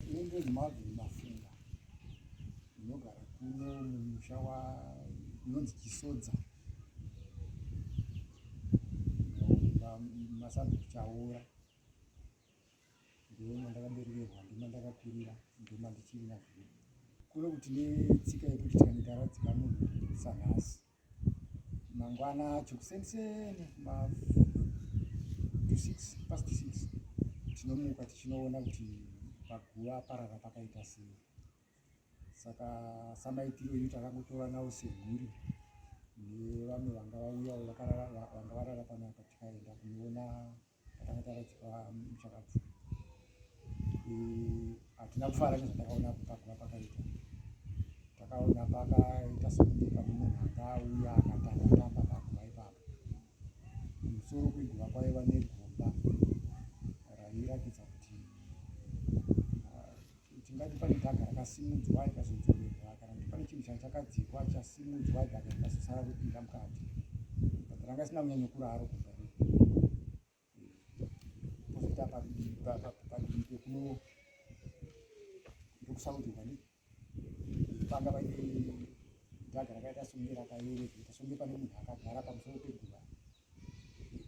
Ndiri Marvin Mafunga ndinogara kuno mumusha unonzi Chisodza masabhuku Chaora ndoo mandakaberekerwa ndima ndakakurira ndima ndichiri nazvino kuno kuti netsika yekuti tikanoita radzika munhu sanhasi mangwana acho kuseniseni ma to six past six tinomuka tichinoona kuti paguva parara pakaita sei saka samaitiro yu takangotora nawo seguri nevamwe vanga vauyawo vanga varara panapa tikaenda kunoona akataradzikwa muchakabvu hatina kufara nezvatakaona pakura pakaita takaona pakaita sekuti pane munhu anga auya akatangatamba pakuva ipapo musoro kwiguva kwaiva negomba rairatidza kuti Tingati pane dhaga rakasimudzwa rikazodzorerwa kana kuti pane chinhu chachakadzikwa chasimudzwa dhaga rikazosara ropinda mukati but ranga risina kunyanya kuraro kubva pozoita padivi pekuno ndokusaurirwa ndi panga vaine dhaga rakaita songe rakayereketa songe pane munhu akagara pamusoro peguva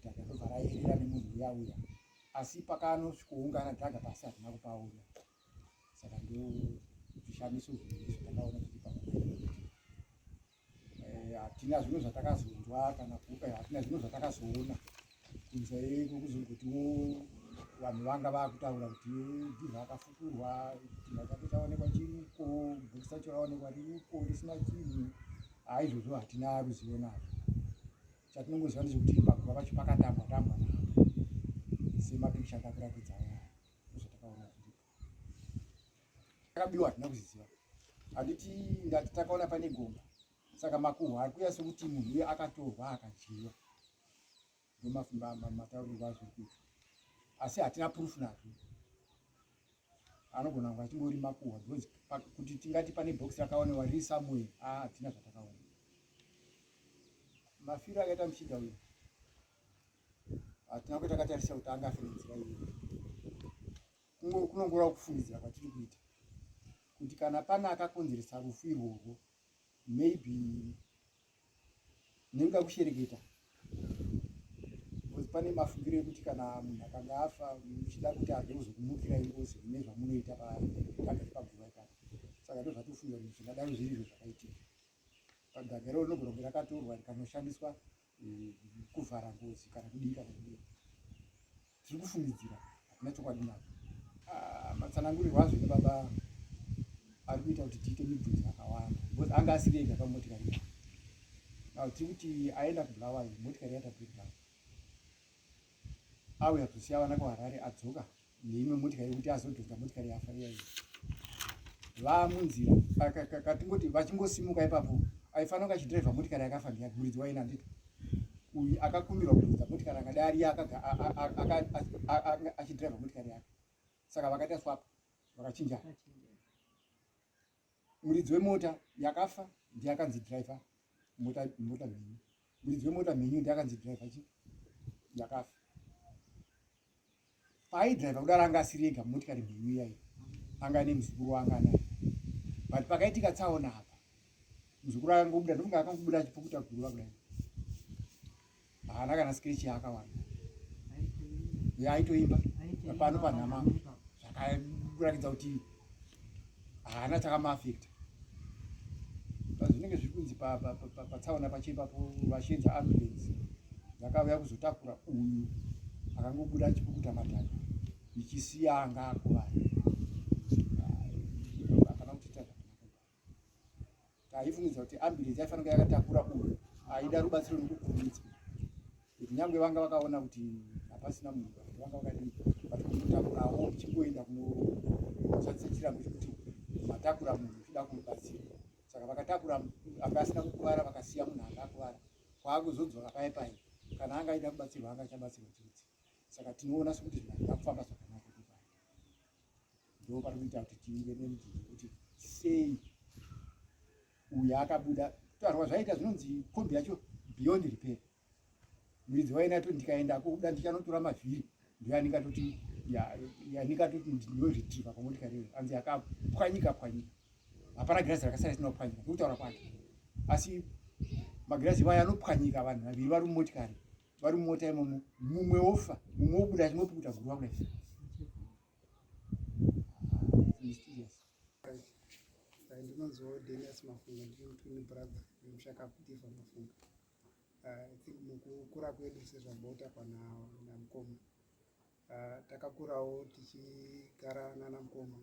dhaga robva rayerera nemunhu uya uya asi pakanosvikoungana taga pasi hatina kupaona saka ndo zvishamiso zvizvo takaona kuti eh, hatina zvimwe zvatakazonzwa kana kupa eh, hatina zvimwe zvatakazoona kunze kwekuzongotiwo vanhu vanga vakutaura kuti ndizvo akafukurwa chimba chake chaonekwa chiriko bhuku sacho raonekwa ririko risina chinhu haizvozvo hatina ruzivo nazvo chatinongoziva ndechekuti pakuva pacho pakatambwa tambwa navo semapikicha atakuratidza aya ndozvatakaona kuti akabiwa hatina kuziziva handiti ndati takaona pane gomba saka makuhwa ari kuya sekuti munhu uye akatorwa akadyiwa ndomafumba mataurirwa azviri kuita asi hatina purufu nazvo anogona kunge achingori makuhwa because kuti tingati pane box rakaonewa riri somewhere ah tina zvatakaona mafiro akaita muchinda uyu hatina ah, kuti akatarisa kuti anga afira nzira iyo kunongora kufungidzira kwatiri kuita kuti kana pane akakonzeresa rufu irworwo maybe Nekuda kushereketa because pane mafungiro ekuti kana munhu akanga afa muchida kuti adozo kumukira ingozi ine zvamunoita pagagari paguva ipapo saka ndo zvatofunga kuti zvingadaro zviri izvo zvakaitika pagagaro rinogona kunge rakatorwa rikanoshandiswa eh, kuvhara ngozi kana kudii kana kudii tiri kufungidzira hakuna chokwadi nacho ah, matsanangurirwo azvo nebaba ari kuita kuti tiite mibvunzo yakawanda because anga asiri ega pamotikari yake now tiri kuti aenda kubulawayo motikari yaita breakdown auya kuzosiya vana kuharare adzoka neimwe motikari yekuti azodhonza motikari yafa iyayi vamunzira katingoti vachingosimuka ipapo aifanira kunge achidhiraivha motikari yakafa ndiya muridzi waina ndito uyu akakumbirwa kuridza motikari akadai ariye achidriva motikari yake saka vakaita swap vakachinjana muridzi wemota yakafa ndiye akanzi driver mota mota mhenyu muridzi wemota mhenyu ndiye akanzi driver chi yakafa paaidriver kudaro anga asiri ega mumotikari mhenyu iyai anga ane muzukuru waanga anaye but pakaitika tsaona apa muzukuru akangobuda ndofunga akangobuda achipukuta guruva kudai haana kana skrechi yaakawana ye aitoimba pano panhama zvakakuratidza kuti haana chakamaafekta pazvinenge zviri kunzi patsaona pachiipapo vachinzi ambulance dzakauya kuzotakura uyu akangobuda achipukuta matanda ichisiya anga akuvara Taifungidzira kuti ambulance yaifanira yakatakura uyu aida rubatsiro nokukurumidzwa kuti nyangwe vanga vakaona kuti hapasina munhu vanga vakadii but kumutakurawo uchingoenda kunoshandisa chirambo chekuti matakura munhu uchida kumubatsira saka vakatakura anga asina kukuvara vakasiya munhu anga akuvara kwaakuzodzoka paye paye kana anga aida kubatsirwa anga achabatsirwa chete saka tinoona sekuti zvinhu hazvina kufamba zvakanaka ndopatikuita kuti tive nemudii kuti sei uyu akabuda kutarwa zvaita zvinonzi kombi yacho beyond repair muridzi waina to ndikaenda kuda ndichanotora mavhiri ndoyanikatoti yanikatoti ndinoretriva pamotikari iyo anzi yakapwanyika pwanyika hapana girazi rakasara isina kupwanyika ndikutaura kwake asi magirazi iwayo anopwanyika vanhu vaviri vari mumotikari vari mumota imomo mumwe wofa mumwe wobuda chimwe pukuta gurwa kudai ndinonziwo denias mafunga ndiri mutwini brother nemushaka kutiva mafunga ah, i think mukukura kwedu sezvamboita pana namukoma ah, takakurawo tichigara nana mukoma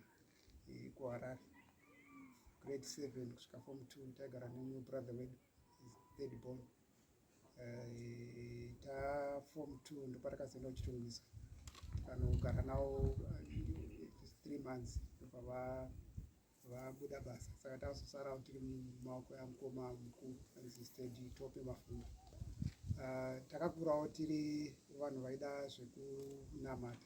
eh, kuharare grade seven kusvika form two taigara nemumwe brother wedu third born Eh, ta form two ndopatakazoenda kuchitungwiza kanogara nawo eh, three months ndopava vabuda basa saka tazosarawo tiri mumaoko yamukoma mukuru anzistedi tope mafundo ah, takakurawo tiri vanhu vaida zvekunamata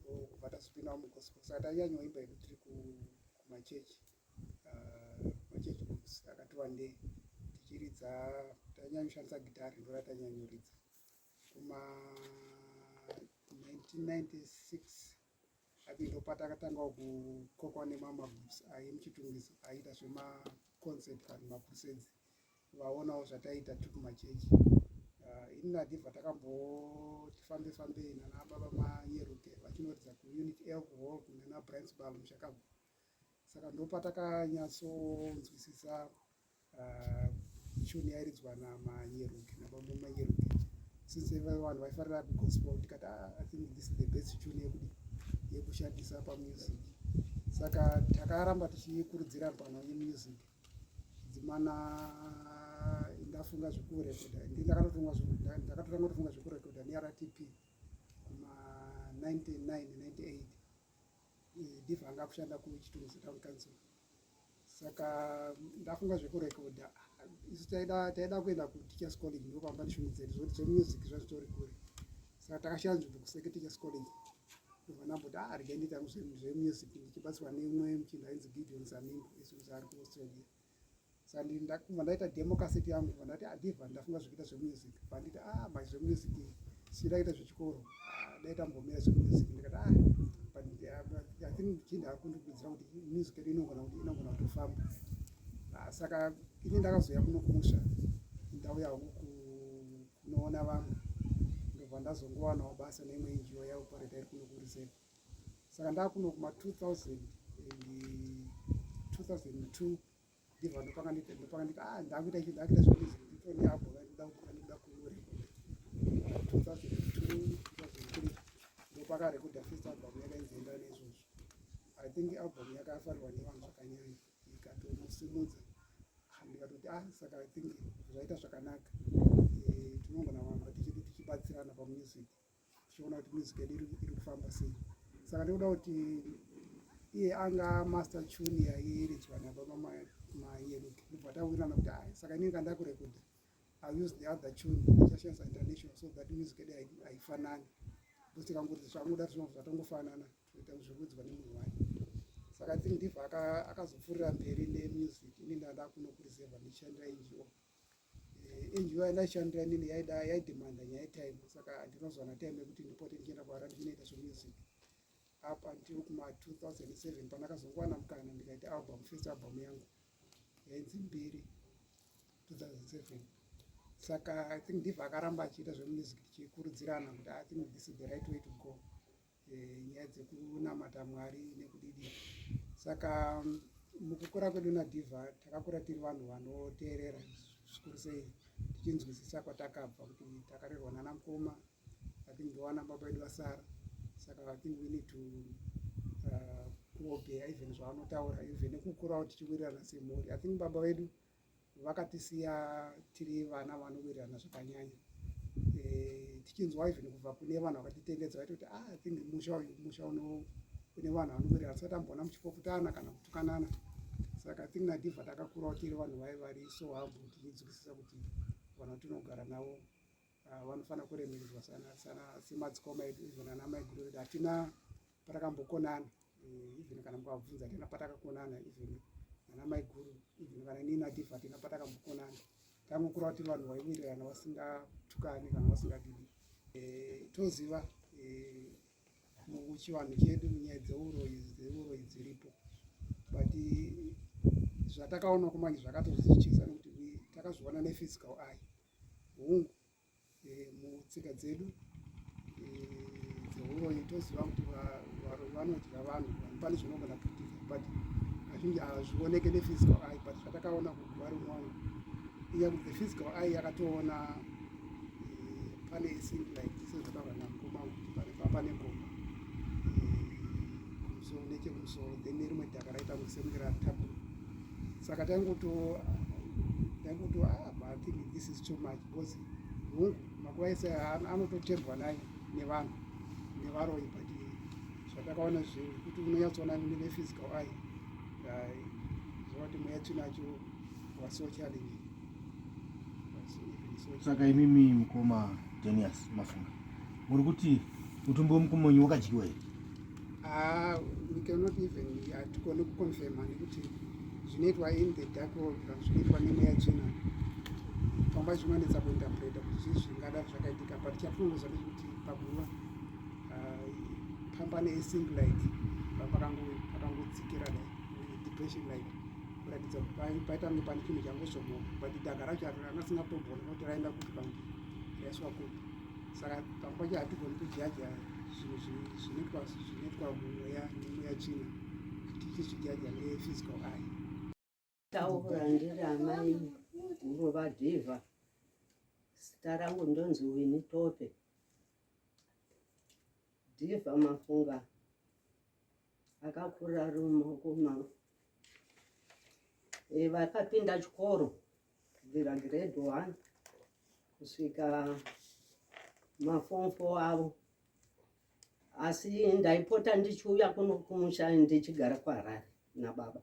ndokubva tazopindawo mugospel saka taiyanyoimba yedu tiri kumachechi ah, machechi books akati wandei tichiridza tainyanyoshandisa gitari ndora tainyanyoridza kuma 1996 ati ndopatakatanga kukokwa nemamagroups aye muchitungiso aiita zvemaconcert kana macrusades vaonawo zvataita tiri kumachechi ah, ini nadhivha takamboti fambe fambei nana baba manyeruke vachinoridza kuunit alcohol kunana brinsbal mushakabvu saka ndopatakanyatsoonzwisisa ah, chuni yairidzwa namanyeruke nababa manyeruke since vanhu vaifarira kugospel tikati ah, i think this is the best chuni yekudi yekushandisa pamusic saka takaramba tichikurudzira pano yemusic dzimana ndafunga zvekurekodha ndi ndakatotanga kutofunga zvekurekodha nertp kuma 9998 ndibva anga kushanda kuchitunzi town council saka ndafunga zvekurekodha isu taida kuenda kuteachers college ndopamba ndishungu dzedu zvokuti zvemusic zvazvitori kure saka takashaya nzvimbo kuseketeachers college Ndovana but ah rega ndita zvemusic ndichibatsirwa neumwe muchinda ainzi Gideon Zanimbo isu ari ku Australia. Sandi ndakuma ndaita demo cassette yangu ndova ndati adiva ah, ndafunga zvekuita zvemusic panditi ah mai zvemusic sindakaita zvechikoro ah, ndaita mbomira zvemusic ndikati ah panditi ah, I think muchinda ari kundikurudzira kuti music yedu inogona kuti inogona kutofamba saka ini ndakazouya kuno kumusha ndauya hangu unoona vamwe ndobva ndazongowanawo basa neimwe injiwa yaopareta iri kuno kurizeva saka ndakuno kuma 2000 2002 ndibva ndopanga nditi ndopanga nditi ah ndakuita ichi ndakuita zvekuti ndito neabo vaikuda kuti vanikuda kuore 2002 2003 ndopaka rekuda first album yakainzenda nezvozvo i think album yakafarirwa nevanhu zvakanyanya ndikatomusimudza ndikatoti ah saka i think zvaita zvakanaka eh, tinongona vamba tichibatsirana pamusic tichiona kuti music yedu iri kufamba sei saka ndikuda kuti iye anga master tune yaiiridzwa nababa mayeruke ndobva tawirana kuti ah saka inini kandakurekuda i use the other tune ndichashandisa international so that music yedu haifanani because tikangozi zvamuda zvinobva zvatongofanana kuita zvekuudzwa nemunhu wake saka i think ndibva akazopfuurira mberi nemusic ini ndada kunokurizirwa ndichishandira ngo eh, ngo yandaishandira nini yaida yaidemanda nyaya yetime saka ndinozwana time yekuti ndipote ndichienda kuhara ndichinoita zvemusic up until kuma 2007 pandakazongowana mukana ndikaita album first album yangu yainzi mbiri 2007 saka i think ndibva akaramba achiita zvemusic tichikurudzirana kuti i think this is the right way to go eh, nyaya dzekunamata mwari nekudidi saka mukukura kwedu nadhiva takakura tiri vanhu vanoteerera zvikuru sei tichinzwisisa kwatakabva kuti takarerwa nana mukoma athink ndowana baba vedu vasara saka athink we need to uh, kuobeya even zvavanotaura even nekukurawo tichiwirirana semhuri athink baba vedu vakatisiya tiri vana vanowirirana zvakanyanya eh, tichinzwa even kubva kune vanhu vakatitengedza vaitoti ah, i think musha uyu musha uno une vanhu vanowirirana tisati amboona muchipoputana kana kutukanana saka think nadivha takakurawo tiri vanhu vai vari so hambo tichidzikisisa kuti vanhu tinogara navo Ah, vanofanira kuremekedzwa semadzikoma edu even ana maiguru edu hatina patakakambokonana eh, even kana mukavabvunza hatina patakakonana even ana maiguru even kana ini native hatina patakakambokonana tangokura kuti vanhu vaiwirirana vasingatukani kana vasingadidi eh, toziva eh, muchivanhu chedu nyaya dzeuroyi dzeuroyi dziripo but zvatakaona kumanje zvakatozichisa nekuti takazviona nephysical eye hungu eh, mutsika dzedu eh, dzehuroyi toziva kuti vanodya vanhu pane zvinogona kuitika but kazhinji hazvioneke nephysical eye but zvatakaona kuguva rimwana iya kuti the physical eye yakatoona eh, pane isin like sezvataura namkoma kuti pane pane gomba kumusoro nechekumusoro then nerimwe dhaka raita kuti sekunge ratapura saka taingoto ndaingoto ah, but i think this is too much because hungu makuva ese anototembwa naye nevanhu nevaroyi but zvatakaona zvekuti unonyatsoona nephysical eye zvavati mweya tinacho was so challenging saka imimi mukoma denias mafunga muri kuti mutumbi wemukumonyi wakadyiwa here Ah, we cannot even hatigone kuconfirma nekuti zvinoitwa in the dark world kana zvinoitwa nemweya chena pamba zvinonetsa kuinterpreta kuti zvii zvingada zvakaitika but chatinongoziva ndechekuti pakuva ah, pamba neesing like pakangodzikira like depression like kuratidza paita kunge pane chinhu changozomoka but daka racho ranga singatombona kuti raenda kuti pange raiswa kupi saka pamwe pacho hatigoni kujaja zvinoitwa zvinoitwa mumweya nemweya china tichizvijaja nephysical eye taura ndiri amai ngova dhiva zita rangu ndonzi wini tope dhiva mafunga akakurira ari mumaoko mavo eh, vakapinda chikoro kubvira grade one kusvika mafomfo avo asi ndaipota ndichiuya kuno kumusha ndichigara kuharare nababa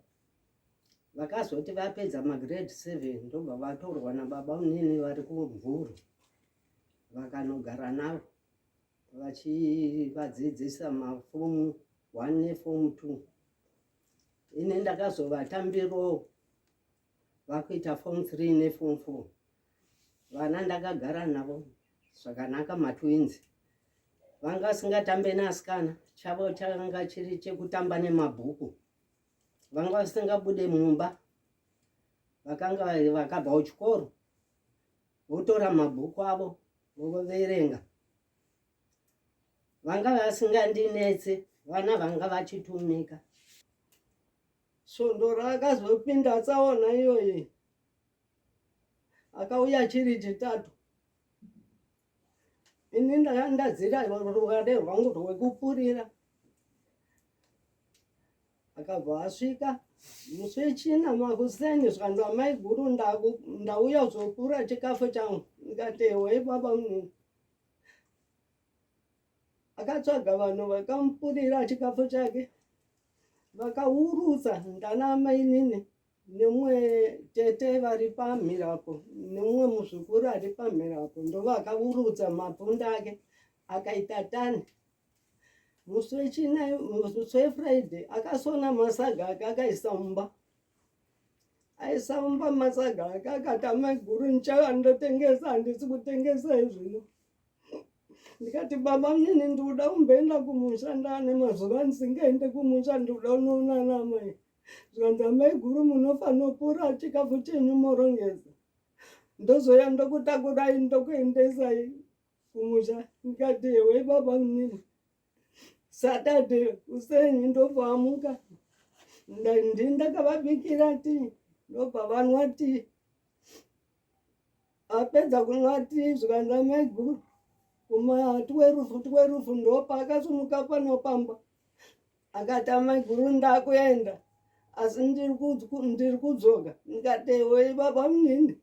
vakazoti vapedza magrade seven ndobva vatorwa nababa unini vari kumvuru vakanogara navo vachivadzidzisa mafomu one nefomu two ini ndakazovatambiro vakuita form 3 neform 4 vana ndakagara navo zvakanaka matwins vanga vasingatambe neasikana chavo changa chiri chekutamba nemabhuku vanga vasingabude mumba vakanga vakabva kuchikoro votora mabhuku avo voverenga vanga vasingandinetse vana vanga vachitumika Svondo raakazopinda tsaona iyoyi akauya chiri chitatu ini ndaya ndadzira rukade rwangu rwekupurira akabva asvika musi wechina makuseni zvikanzi amai guru ndauya kuzopura chikafu changu ndikati ewe baba munini akatsvaga vanhu vakamupurira chikafu chake vakaurutsa ndana mainini nemumwe tete vari pamhirapo nemumwe muzukuru ari pamhirapo ndovakaurutsa mapunda ake akaita tani musi wechina musi wefriday akasona masaga ake akaisa mumba aisa mumba masaga ake akatama guru ndichava ndotengesa handisi kutengesa izvino ndikati baba mnini ndikuda kumboenda kumusha ndaane mazuva ndisingaende kumusha ndikuda unoona namai zvikanzi amai guru munofanopura chikafu chenyu morongesa ndozouya ndokutakurai ndokuendesai kumusha ndikati hewe baba mnini saturday kuseni ndopamuka ndakavabikira ti ndobva vanwa ti apedza kunwati zvikanza maiguru kuma twerufu twerufu ndopa akasumuka panopamba akata maiguru ndakuenda asi ndiri kudzoka ndikatewe baba munini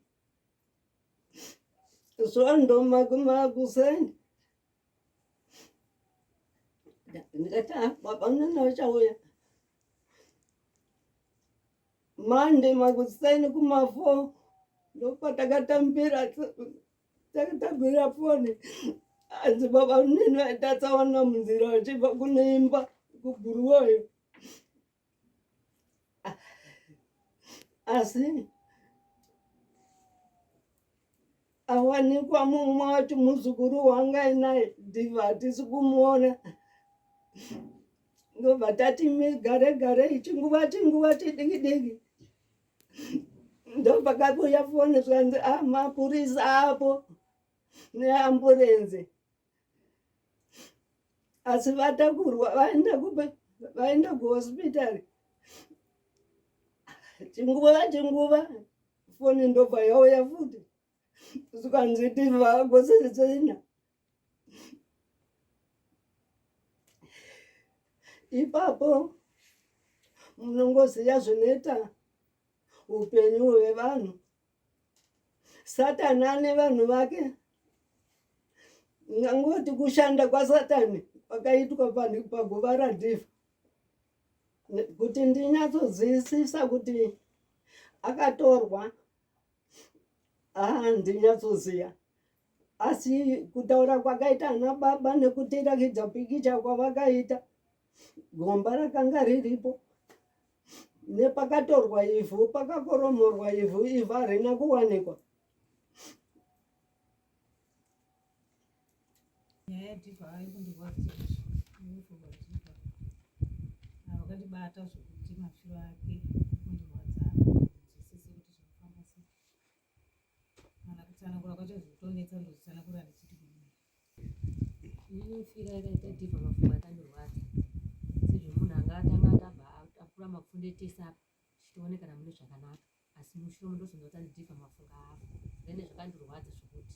zvandomakumakuseni ndikati ah, baba munini vachauya Monday makuseni kumafo ndopatakatambira takatambira foni hanzi baba munini vaitatsawana munzira vachibva kuneimba kuguruwoyo asi awanikwa mumwe wati muzukuru wanga inaye diva hatisi kumuona ndobva tati migare gare chinguva chinguva chidiki diki ndopakakuya foni zvikanzi a ah, mapurisa apo neamburenzi asi vatakurwa vaenda kuba vaenda kuhospital chinguva chinguva foni ndobva yauya futi zvikanzi tivagosesena ipapo munongoziva zvinoita upenyu hwevanhu satani ane vanhu vake ngangoti kushanda kwasatani kwakaitwa panhu paguva radhifa kuti ndinyatsodzivisisa kuti akatorwa haa ndinyatsoziva asi kutaura kwakaita ana baba nekutirakidza pikicha kwavakaita gomba rakanga riripo nepakatorwa ivhu pakakoromorwa ivhu ivhu harina kuwanikwa vakandibata zvokuti mashura ake Ndinofira yakaita ipa mafunga akandirwadza sezvemunhu anga atanga atamba akura mapfunde etese apa tichione kana mune zvakanaka asi mushure mundozonzwa kuti andidipa mafunga avo then zvakandirwadza zvekuti